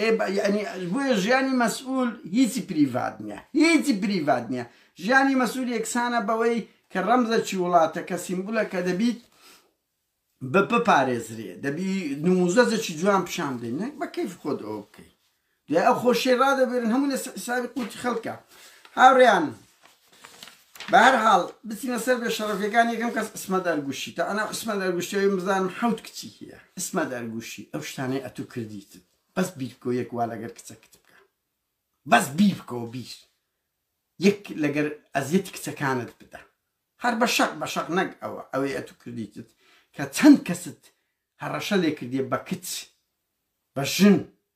ئێ بە یعنی بۆیە ژیانی مەسئول هیچی پریڤات نییە هیچی پریڤات نییە ژیانی مەسول یەکسانە بەوەی کە ڕەمزە چی وڵاتە کە سیمبولە کە دەبیت بە بپارێزرێ دەبی نموزەزەکی جوان پیشان بدەین نەک بە کەیف خۆت ئەو بکەیت دوای ئەو خۆشی ڕادەبێرن هەموو لە حسابی قوتی خەڵکە هاوڕیان بەهەرحاڵ بچینە سەر بێ شەڕەفیەکان یەکەم کەس عیسمەت ئەرگوشی تا ئەنا عیسمەت ئەرگوشی ئەوین بزانم حەوت کچی هەیە عیسمەت ئەرگوشی ئەو شتانەی ئەتوو کردیتت بەس بیر بکەوە یەک وا لەگەر کچەکت بکە بەس بیر بکەوە بیر یەک لەگەر ئەزیەتی کچەکانت بدە هەر بە شەق بە شەق نەک ئەوە ئەوەی ئەتوو کردیتت کە چەند کەست هەڕەشە لێ کردیە بە کچ بە ژن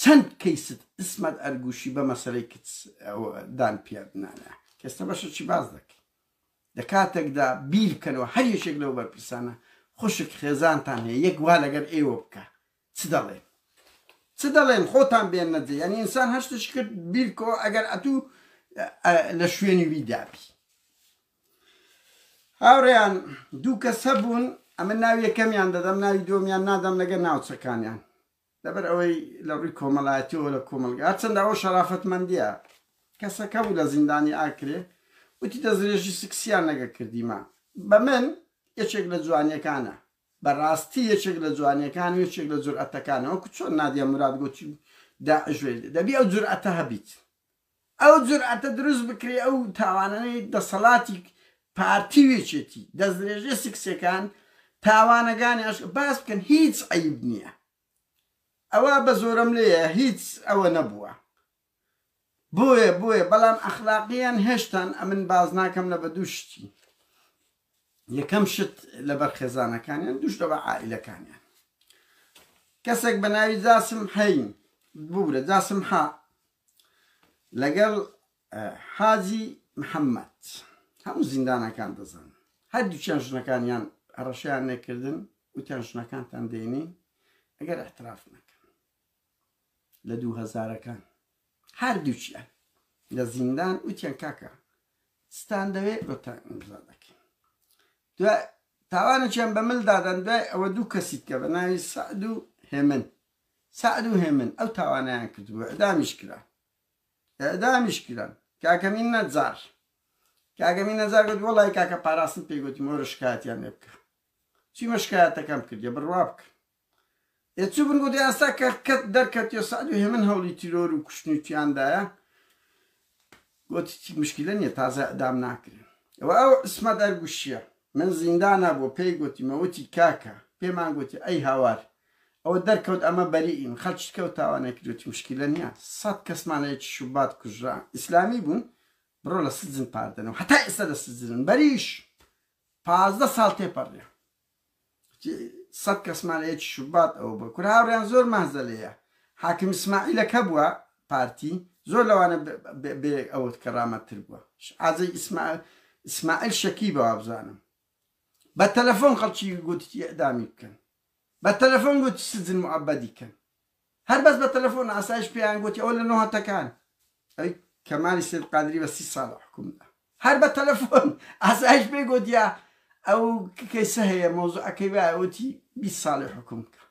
چەند کەیست اسمت ئەرگوشی بە مەسەلەی کچ ئەوە دان پیات نانە کێستە بەشە چی باس دەکەی لە کاتەک دا بیر بکەنەوە هەر یەکێک لەو بەرپرسانە خوشک خێزانتان هەیە یەک وا لەگەر ئێوە بکا چ دەڵێن چ دەڵێن خۆتان بێننە جێ یانی ئینسان هەر شتێکی کرد بیر بکەوە ئەگەر ئەتوو لە شوێنی وی دابی هاوڕێیان دوو کەس هەبوون ئەمە ناوی یەکەمیان دەدەم ناوی دووەمیان نادەم لەگەر ناوچەکانیان لەبەر ئەوەی لە ڕووی کۆمەلایەتیەوە لە کۆمەلگا هەرچەندە ئەوە شەرافەتمەندیە کەسەکە بوو لە زیندانی ئاکرێ وتی دەستدرێژی سکسیان لەگە کردیمە بە من یەکێک لە جوانیەکانە بە ڕاستی یەکێک لە جوانیەکان و یەکێک لە جورئەتەکانە وەکو چۆن نادیە موراد گوتی داعش وێ دەبی ئەو جورئەتە هەبیت ئەو جورئەتە دروست بکرێ ئەو تاوانانەی دەسەڵاتی پارتی و یەکێتی دەستدرێژیە سکسیەکان تاوانەگانی ئەشکەوت باس بکەن هیچ عەیب نیە ئەوە بە زۆرەملێیە هیچ ئەوە نەبووە بۆیە بۆیە بەڵام ئەخلاقیان هێشتان ئەمن باز ناکەم لە بە دوو شتی یەکەم شت لەبەر خێزانەکانیان دوش لەبە عائلەکانیان کەسێک بە ناوی جاسم حەین ببورە جاسم حە لەگەڵ حاجی محەمەد هەموو زیندانەکان دەزان هەردووچیان ژنەکانیان هەڕەشیان نەکردن وتیان ژنەکانتان دێنین ئەگەر احتراف نەکەن لە دوو هەزارەکان هەردووچیان لە زیندان وتیان کاکە ستان دەوێت گوتان ئیمزا دەکەین دوای تاوانێکیان بە ملدادەن دوای ئەوە دوو کەسیت کە بە ناوی سعد و هێمن سەعد و هێمن ئەو تاوانەیان کردبوو اعدامیش کران اعدامیش کران کاکە مین نەجار کاکە مین نەجار گوت وەڵای کاکە پاراستن پێی گوتم وەرە شکایەتیان لێ بکە چیمە شکایەتەکەم کردیە بڕوا بکە ئێ چوو بن گوت ئێستا کە کەت دەرکەتیە سەعد و هێمن هەوڵی تیرۆر و کوشتنی تیاندایە گۆت هیچ مشکیلە نیە تازە ئیعدام ناکرێ ئەوە ئەو عیسمەت ئەرگوشیە من زیندانا بوە پێی گۆتیمە وتی کاکە پێمان گۆتی ئەی هاوار ئەوە دەرکەوت ئەمە بەریئین خەلکی تکە و تاوانە کری وتی مشکیلە نیە سەد کەسمان لە یەکی شوبات کوژرا ئیسلامی بون بڕۆ لە سجن پاردەنەوە هەتا ئیستا لە سجنن بەریش پازدە سال تێپەریا. سەد کەسمان لە یەکی شوبات ئەوە بوە کورە هاوریان زۆر مەهزەلەیە حاکم اسماعیلە کە بوە پارتی زۆر لەوانە بێ ئەوت کە رامەتتر بوە عزەی اسماعیل شەکی بە وابزانم بە تەلەفۆن خەڵکی گوتتی ئەدامی بکەن بە تەلەفۆن گوت سجن معبدی کەن هەر بەس بە تەلەفۆن ئاسایش پێیان گۆتی ئەوە لە نۆهەتەکان ئەوی کەمالی سەید قادری بە سی ساڵە حوکم دا هەر بە تەلەفۆن ئاسایش پێی گۆتیە ئەو کەیسە هەیە مەوزوعەکەی وایە وتی بیست ساڵی حوکم بکە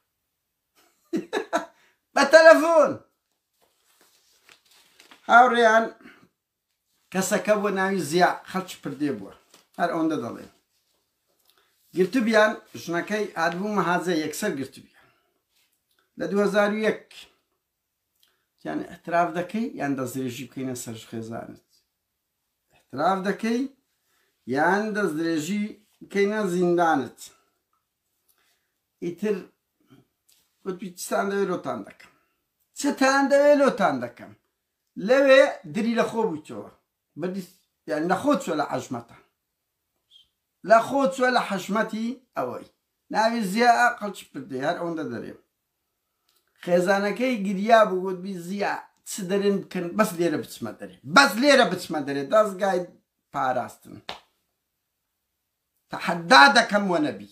بە تەلەفۆن هاوڕێیان کەسەکە بوە ناوی زیا خەڵکی پردێ بوە هەر ئەوەندە دەڵێن گرتبیان ژنەکەی هاتبوو مەهاجە یەکسەر گرتبیان لە 2001 یان احتراف دەکەی یان دەستدرێژی بکەینە سەر خێزانت احتراف دەکەی یان دەستدرێژی بکەینە زیندانت ئیتر وتوی چتان دەوێت لۆتان دەکەم چتان دەوێت لۆتان دەکەم لەوێ دری لە خۆ بویتەوە بردی یان لە خۆ چوە لە عەژمەتە لە خۆ چوە لە حەژمەتی ئەوەی ناوی زیا قەچ پردی هەر ئەوەندە دەرێم خێزانەکەی گریا بوو گوت بی زیا چ دەرێن بکەن بەس لێرە بچمە دەرێ بەس لێرە بچمە دەرێ دەستگای پاراستن تەحەدا دەکەم وە نەبی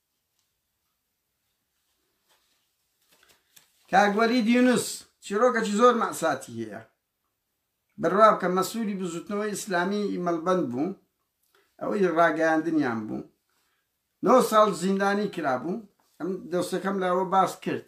کاک وەلید یونس چیرۆکەکی زۆر مەساتی هەیە بڕوا بکە مەسووری بزوتنەوەی ئیسلامی مەلبەند بوو ئەوەی ڕاگەیاندنیان بوو نۆ ساڵ زیندانی کرابوو ئەم دەستەکەم لاوە باس کرد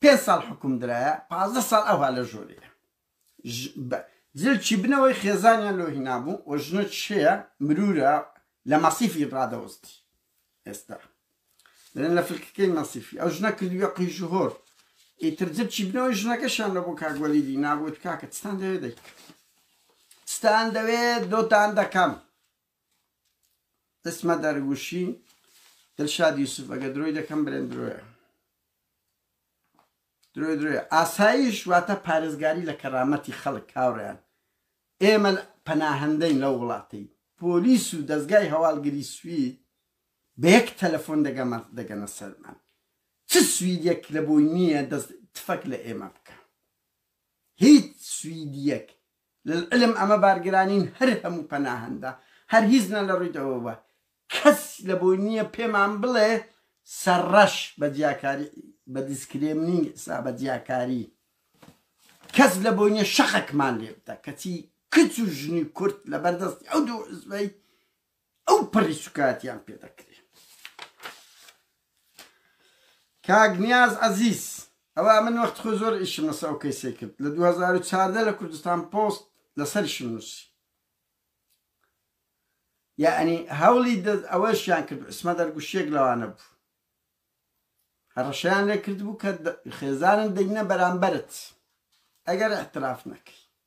پێنج ساڵ حوکم درایە پازدە ساڵ ئەوها لە ژۆرێیە ژ بە جل چی بنەوەی خێزانیان لۆ هینابوو و ژنە چێە مرورە لە مەسیفی ڕادەوستی ئێستا دەێن لە فلکەکەی مەسیفی ئەو ژنە کردویە قیژ و هۆر ئیتر جل چی بنەوەی ژنەکەشان لە بۆ کاگوەلی دی نابوت کاکە چتان دەوێ دەیکرد ستان دەوێ دۆتان دەکەم اسمە دەرگوشی دلشاد یوسف ئەگەر درۆی دەکەم برێن درۆیە درۆی درۆیە ئاسایش واتە پارێزگاری لە کەرامەتی خەڵک کاوڕیان ئێمە پەناهندەین لەو وڵاتەی پۆلیس و دەستگای هەواڵگری سوید بە یەک تەلەفۆن دەگەمە دەگەنە سەرمان چ سویدێک لە بۆی نییە دەست تفەک لە ئێمە بکە هیچ سویدیەک للعلم ئەمە بارگرانین هەر هەموو پەناهەندە هەر هیزنە لە ڕووی دەوەوە کەس لە بۆی نییە پێمان بڵێ سەرڕەش بە جیاکاری بە دیسکرێمنینگ سا بە جیاکاری کەس لە بۆی نییە شەقەکمان لێ بدە کەچی کچ و ژنی کورد لە بەردەستی ئەو دوو حزبەی ئەو پەڕی سوکاتیان پێ دەکرێ کاک نیاز عزیز ئەوە من وەخت خۆ زۆر ئیشم لەسە ئەو کەیسێ کرد لە 2014 لە کوردستان پۆست لەسەرشم نووسی یعنی هەوڵی دەست ئەوەشیان کرد ئسمە دەرگوشیێک لەوانە بوو هەڕەشیان لێ کرد بوو کە خێزانم دەینە بەرامبەرت ئەگەر احتراف نەکەی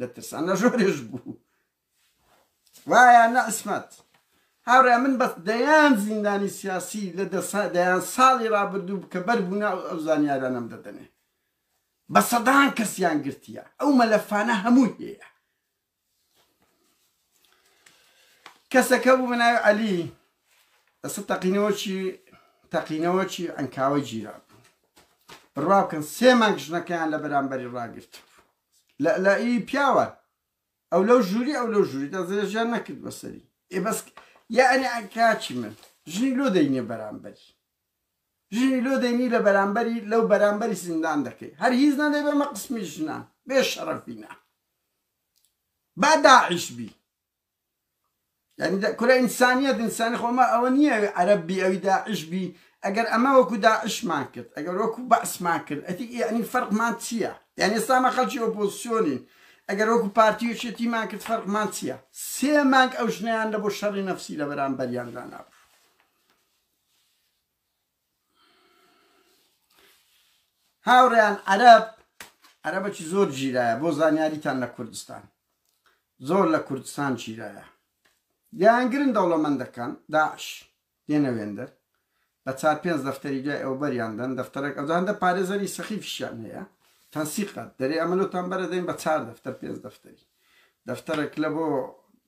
لە ترسانە ژۆرێش بوو وایە نە عسمەت هاورێ من بەس دەیان زیندانی سیاسی لە دەسا دەیان ساڵی رابردوو کە بەر بوونا ئەو زانیارانم دەدەنێ بە سەدان کەسیان گرتیە ئەو مەلەفانە هەمووی هەیە کەسەکە بوو بەناوی عەلی ئەسە تەقینەوەکی تەقینەوەکی ئەنکاوە گیرا بڕوا بکەن سێ مانگ ژنەکەیان لە بەرامبەری ڕاگرت لە لە ی پیاوە ئەو لەو ژووری ئەو لەو ژووری دەزێژیان نەکرد بەسەری ئێ بەس یعنی کاچی من ژنی لۆ دەینێ بەرامبەری ژنی لۆ دەینی لە بەرامبەری لەو بەرامبەری زیندان دەکەی هەر هیچ نەدەی بەمە قسمی ژنان بێ شەڕەفینە با داعش بی یانی کورە ئینسانیەت ئینسانی خۆ ئەمە ئەوە نییە ئەوی عەرەب بی ئەوی داعش بی ئەگەر ئەمە وەکو داعشمان کرد ئەگەر وەکو بەعسمان کرد ئەتی یعنی فەرقمان چییە یعنی ئێستا ئەمە خەڵکی ئۆپۆزسیۆنین ئەگەر وەکو پارتی و یەکێتیمان کرد فەرقمان چییە سێ مانگ ئەو ژنەیان لە بۆ شەڕی نەفسی لە بەرامبەریان دانابوو هاوڕێیان عەرەب عەرەبەکی زۆر گیرایە بۆ زانیاریتان لە کوردستان زۆر لە کوردستان گیرایە دیانگرن دەوڵەمەندەکان داعش دێنە وێندەر بە چار پێنج دەفتەری دوای ئەو بەریاندەن دەفتەرێک ئەوجاندە پارێزەری سەخیفشیان هەیە تەنسیقات دەرێ ئەمەلوتان بەرە دەین بە چار دەفتەر پێنج دەفتەری دەفتەرەک لە بۆ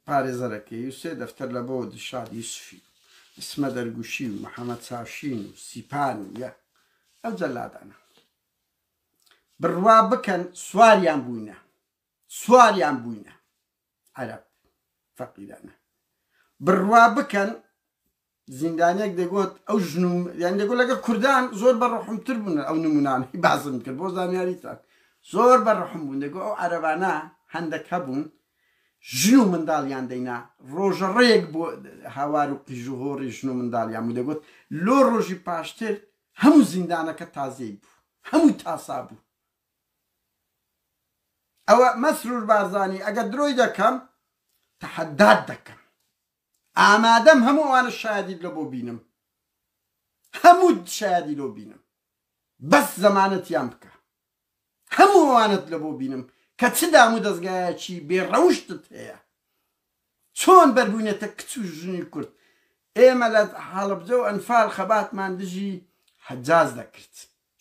پارێزەرەکەی و سێ دەفتەر لە بۆ دلشاد یوسفی و ئیسمە دەرگوشی و محەمەد چاوشین و سیپان و یە ئەو جەلادانە بڕوا بکەن سواریان بووینە سواریان بووینە عەرب فەقیرانە بڕوا بکەن زیندانیەک دەگۆت ئەو ژن و یانی دەگۆت لەگەڵ کوردان زۆر بە ڕەحم تر بوون ئەو نمونانەی باسم کرد بۆ زانیاریتان زۆر بە ڕەحم بوون دەگۆ ئەو عەرەبانە هەندەک هەبوون ژن و منداڵیان دەینا ڕۆژە ڕێک بۆ هاوار و قیژ و هۆڕی ژن و منداڵیان بوو دەگۆت لۆ ڕۆژی پاشتر هەموو زیندانەکە تازەی بوو هەموو تاسا بوو ئەوە مەسرور بارزانی ئەگەر درۆی دەکەم تەحەدات دەکەم. ئامادەم هەموو ئەوانە شایەدیت لۆ بۆ بینم هەمووت شایەدی لۆ بینم بەس زەمانەتیان بکە هەموو ئەوانەت لە بۆ بینم کە چ دام و دەزگایەکی بێ ڕەوشتت هەیە چۆن بەربوونەتە کچ و ژنی کورد ئێمە لە هەڵەبجە و ئەنفال خەباتمان دژی حەجاج دەکرد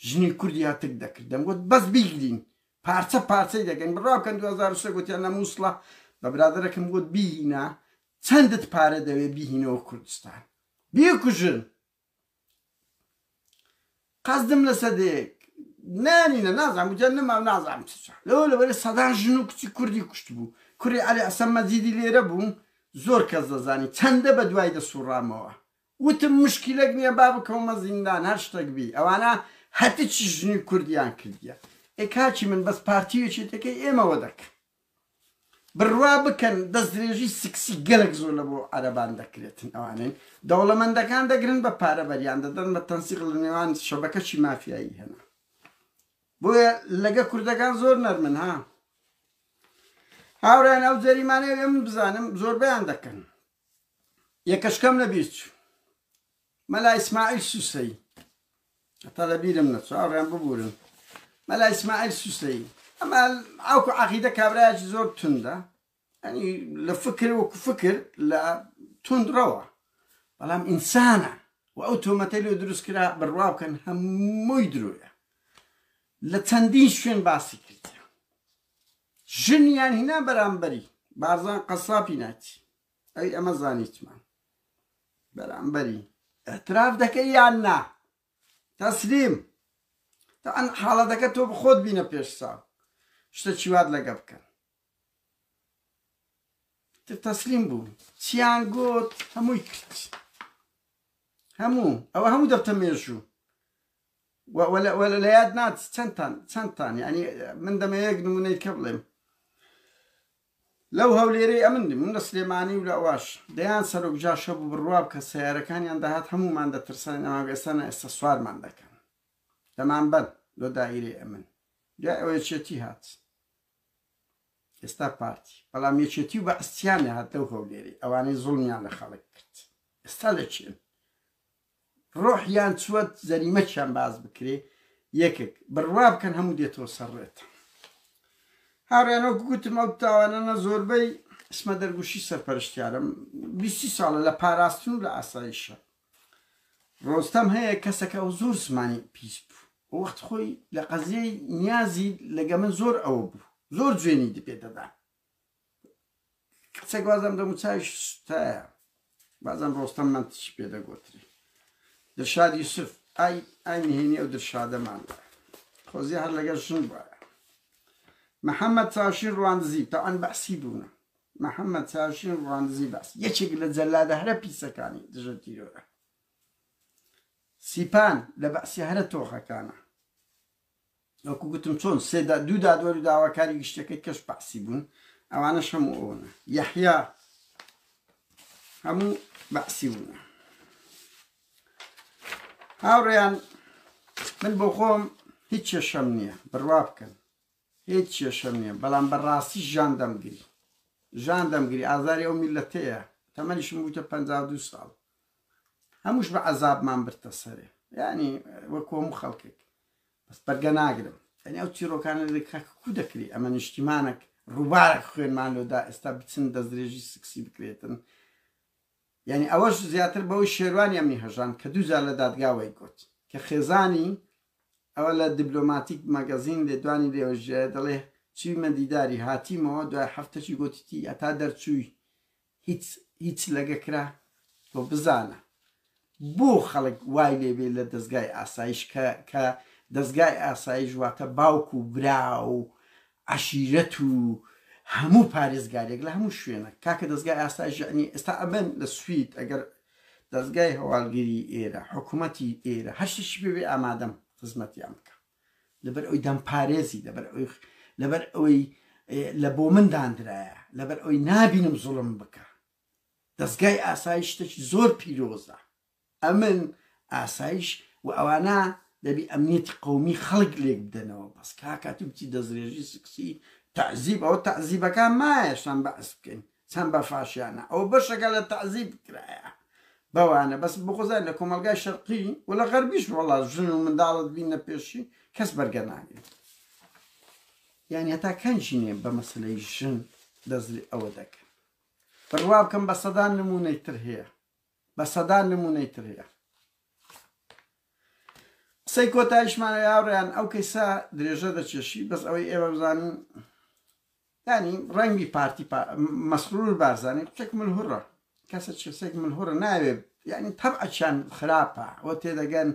ژنی کوردی هەتک دەکرد دەمگوت بەس بیگرین پارچە پارچەی دەکەین بڕاوکەن دوو هەزار و سێ گوتیان لە موسڵە بە برادەرەکم گوت بیهینە چەندت پارە دەوێ بیهینەوە کوردستان بیکوژن قەزدم لە سەدەیەک نانینە نازان گوتیان نەما نازانم چ لەوە لەبەرە سەدان ژن و کچی کوردی کوشت بوو کوڕی عەلی ئەسەم مەجیدی لێرە بوو زۆر کەس دەزانی چەندە بە دوای دەسوڕامەوە وتم مشکیلەک نیە با بکەومە زیندان هەر شتەک بی ئەوانە هەتچی ژنی کوردیان کردیە ئێ کاکی من بەس پارتی ویەکێتەکەی ئێمە وەدەکەن بروا بکەن دەستدرێژی سکسی گەلەک زۆر لە بۆ عەرەبان دەکرێتن ئەوانەی دەوڵەمەندەکان دەگرن بە پارە بەریان دەدەن بە تەنسیق لە نێوان شەبەکەچی مافیایی هەنا بۆیە لەگە کوردەکان زۆر نەرمن ها هاوران ئەو جەریمانەیە من بزانم زۆربیان دەکەن یەکەش کەم نەبیت مەلا ئیسماعیل سوسەی هەتا لەبیرم نەچوو ئاڕیان ببورن مەلا ئیسماعیل سوسەی ئەمە ئەو عقیدە کابراایکی زۆر توندا ئەنی لە فکر وەکو فکر لە تونندڕەوە بەڵام ئینسانە و ئەو تۆمەتەی لێ دروست کرا بڕوا بکەن هەمووی درۆیە لە چەندین شوێن باسی کرد ژنیان هینا بەرامبەری بارزان قەسابی نایتی ئەوی ئەمە زانیتمان بەرامبەری اعتراف دەکەی یان نا تەسلیم تا ئەن حاڵەتەکە تۆ بخۆت بینە پێش ساو شتە چیوات لەگە بکەن تەسلیم بوو چیان گوت هەمووی کرد هەموو ئەوە هەموو دەبتە مێژوو وەلا لە یاد ناچ چەندتان چەندتان یانی من دەمەوێ یەک نمونەی کە بڵێم لەو هەولێرەی ئەمن دی من لە سلێمانی و لە ئەواش دەیان سەرۆک جاشە بوو بڕواب کە سیارەکانیان داهات هەمومان دەترسان ئەمان ئێسانە ئێستا سوارمان دەکەن دەمان بەن لۆ دایرێ ئەمن دوای ئەوەیە چێتی هات ئێستا پارتی بەڵام یەکێتی و بە ئەستیان هاتە و هەولێری ئەوانەی زڵمیان لە خەڵک کرد ئێستا لە چێن ڕۆحیان چوەت جەریمەکیان باس بکرێ یەکێک بڕوا بکەن هەموو دێتەوە سەر ڕێت هاوڕیان وەک گوتم ئەو تاوانانە زۆربەی ئسمە دەرگوشی سەرپەرشتیارم بیستی ساڵە لە پاراستن و لە ئاساییشە ڕۆستەم هەیە کەسەکە ئەو زۆر زمانی پیس بوو و وەخت خۆی لە قەزیەی نیازی لەگە من زۆر ئەوە بوو زۆر جوێنی دپێ دەدا کچەک بازم دەموچاوی سوتایە بازم ڕۆستەم من تچی پێ دەگوتری دەشاد یوسف ئای ئای نهێنی ئەو درشادەمان خۆزی هەر لەگەر ژن وایە محەممەد چاشین ڕواندزی تاعن بەحسی بوونە محەممەد چاشین ڕواندزی بەس یەکێک لە جەلادە هەرە پیسەکانی دژە تیرۆرە سیپان لە بەسی هەرە تۆخەکانە وەکو گوتم چۆن سێ دا دوو دادوەر و داواکاری گشتیەکەی کەش بەعسی بوون ئەوانەش هەموو ئەوەنە یەحیا هەموو بەعسی بوون هاوڕێیان من بۆ خۆم هیچ کێشەم نییە بڕوا بکەن هیچ کێشەم نییە بەڵام بەڕاستی ژان دەمگری ژان دەمگری ئازاری ئەو میلەتەیە تەمەنیشم بووتە پ دو ساڵ هەمووش بە عەزابمان بردتە سەرێ یانی وەک هەموو خەڵکێک بەس بەرگە ناگرم یعنی ئەو چیرۆکانە کاکو دەکری ئەمە نیشتیمانێک ڕووبارێک خوێنمان لۆدا ئێستا بچن دەستدرێژی سکسی بکرێتن یعنی ئەوەش زیاتر بەوەی شێروانی ئەمنی هەژان کە دووجار لە دادگاوای گوت کە خێزانی ئەوە لە دیبلۆماتیک مەگەزین لێدوانی لێوەژێ دەڵێ چیمە دیداری هاتیمەوە دوای هەفتەکی گوتیتی ئەتا دەرچووی هیچ هیچ لەگە کرا تۆ بزانە بۆ خەڵک وای لێبێ لە دەزگای ئاسایش کە کە دەزگای ئاسایش واتە باوک و برا و عەشیرەت و هەموو پارێزگارێک لە هەموو شوێنە کاکە دەزگای ئاسایش یعنی ئێستا ئەمن لە سوید ئەگەر دەزگای هەواڵگری ئێرە حکوومەتی ئێرە هەشتشی بێ ئامادەم خزمەتیان بکە لەبەر ئەوی دەمپارێزی لەبەر ئەوی لەبەر ئەوەی لە بۆ من داندرایە لەبەر ئەوی نابینم زوڵم بکە دەستگای ئاسایش شتێکی زۆر پیرۆزە ئەمن ئاسایش و ئەوانە دەبی ئەمنیەتی قومی خەڵک لێک بدەنەوە بەس کاکات بچی دەستێژی سکسی تعزیب ئەوە تعزیبەکان مایەشان بەعس بکەین چەند بە فاشیانە ئەوە بەشەکە لە تەعزیب کرایە بەوانە بەس بخوزای لە کۆمەڵگای شەرقی و لە غەربیش وەڵا ژن و منداڵت بینە پێشی کەس بەرگە ناگرێت یانی هەتا کەن ژینێ بە مەسلەی ژن دەزری ئەوە دەکەن بڕوا بکەم بە سەدان نمونەی تر هەیە بە سەدان نمونەی تر هەیە قسەی کۆتایشمانە یاڕیان ئەو کەیسا درێژە دەچێشی بەس ئەوەی ئێمە بزانین یانی ڕەنگی پارتی پا مەسرور بارزانی کوچەک ملهوڕە کەسە چسێک ملهوڕە ناوێ یانی تەبعەچیان خراپە وە تێدەگەن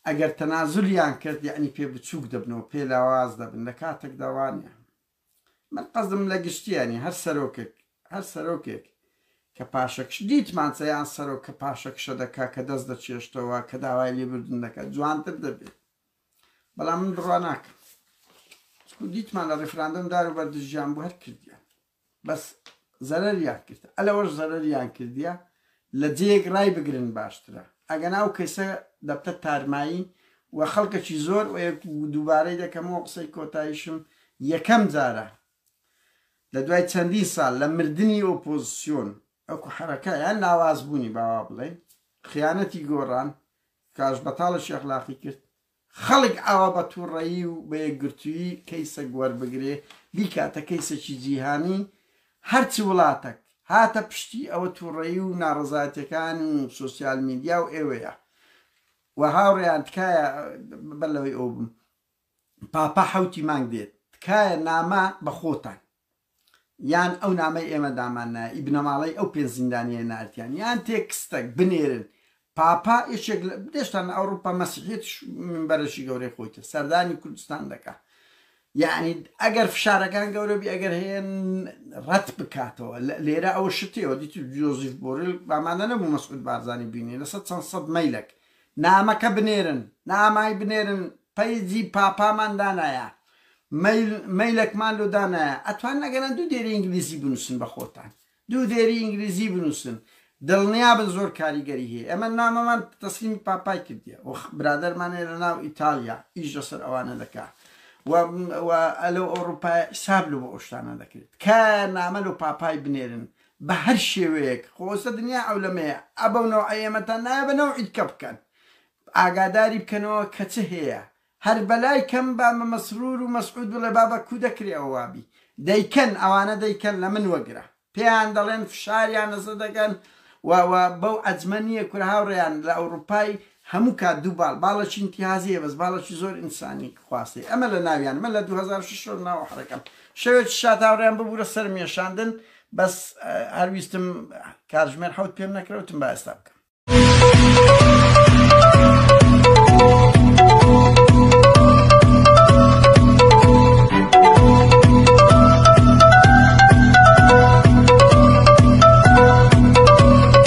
ئەگەر تەنازولیان کرد یانی پێ بچووک دەبنەوە پێ لاواز دەبن لە کاتێک داوانە من قەزم لە گشتیانی هەر سەرۆکێک هەر سەرۆکێک کە پاشەکش دیتمانچە یان سەرۆک کە پاشەکشە دەکا کە دەست دەچێشتەوە کە داوای لێبردن دەکات جوانتر دەبێت بەڵام من بڕوا ناکەم چکو دیتمان لە ڕیفراندۆم دار و بەردژیان بۆ هەر کردیان بەس زەرەریان کرد ئەلەوەش زەرەریان کردیە لە جێک ڕای بگرن باشترە ئەگە ناو کەسە دەبتە تارمایی و خەڵکەکی زۆر و دووبارەی دەکەمەوە قسەی کۆتایشم یەکەم جارە لە دوای چەندین ساڵ لە مردنی ئۆپۆزسیۆن ئەوکو حرەکە یان لاواز بوونی باوا بڵێن خیانەتی گۆڕان کاش بەتاڵشی ئەخلاقی کرد خەڵک ئاوا بە توڕەیی و بە یەکگرتوویی کەیسەک وەربگرێ بیکاتە کەیسەکی جیهانی هەر چ وڵاتەک هاتە پشتی ئەوە توڕەیی و ناڕەزایەتەکان و سوسیال میدیا و ئێوەیە و هاوڕێیان تکایە بەلەوەی ئەو بم پاپا حوتی مانگ دێت تکایە نامە بە خۆتان یان ئەو نامەی ئێمە دامان نایە ی بنەماڵەی ئەو پێنج زیندانییە نارتیان یان تێکستەک بنێرن پاپا یەکێک لە دێشتان لە ئەوڕوپا مەسیحیەتیش مینبەرێکی گەورەی خۆی تێ سەردانی کوردستان دەکا یعنی ئەگەر فشارەکان گەورە بی ئەگەر هەیە ڕەت بکاتەوە لێرە ئەوە شتێەوە دیتر جۆزیف بۆرل بامانە نەبوو مەسعود بارزانانی بینی لەسەر چەند سەد مەیلەک نامەکە بنێرن نامای بنێرن پەیجی پاپامان دانایە مەیل مەیلەکمان لۆ دانایە ئەتوانن ئەگەنا دوو دێری ئینگلیزی بنووسن بە خۆتان دوو دێری ئینگلیزی بنووسن دڵنیا بن زۆر کاریگەری هەیە ئێمە نامەمان تەسلیمی پاپای کردیە و برادەرمان هەیە لە ناو ئیتالیا ئیش لەسەر ئەوانە دەکا و و لەو ئەوروپایە حیساب لەو ئەو شتانە دەکرێت تکایە نامە لەو پاپای بنێرن بە هەر شێوەیەک خۆسە دنیا عەولەمەیە ئەبەو نەوعە ئێمەتان نایە بە نەوعی دکە بکەن ئاگاداری بکەنەوە کە چ هێیە هەر بەلای کەم با مە مەسرور و مەسعود بڵێ بابە کو دەکرێ ئەوە وابی دەیکەن ئەوانە دەیکەن لە من وەگرە پێیان دەڵێن فشاریان لەسە دەکەن و و بەو عەجمە نیە کورە هاوڕێیان لە ئەوڕوپای هەموو کات دوو باڵ باڵەکی ئینتیهازیە بەس باڵەکی زۆر ئینسانی خواستەی ئەمە لە ناویان من لە دوو هەزار و شەش ناوە حەرەکەم شەوێکی شات هاوریان ببورە سەرم یەشاندن بەس هەر ویستم کاتژمێر حەوت پێم نەکرە وتم با ئێستا بکەم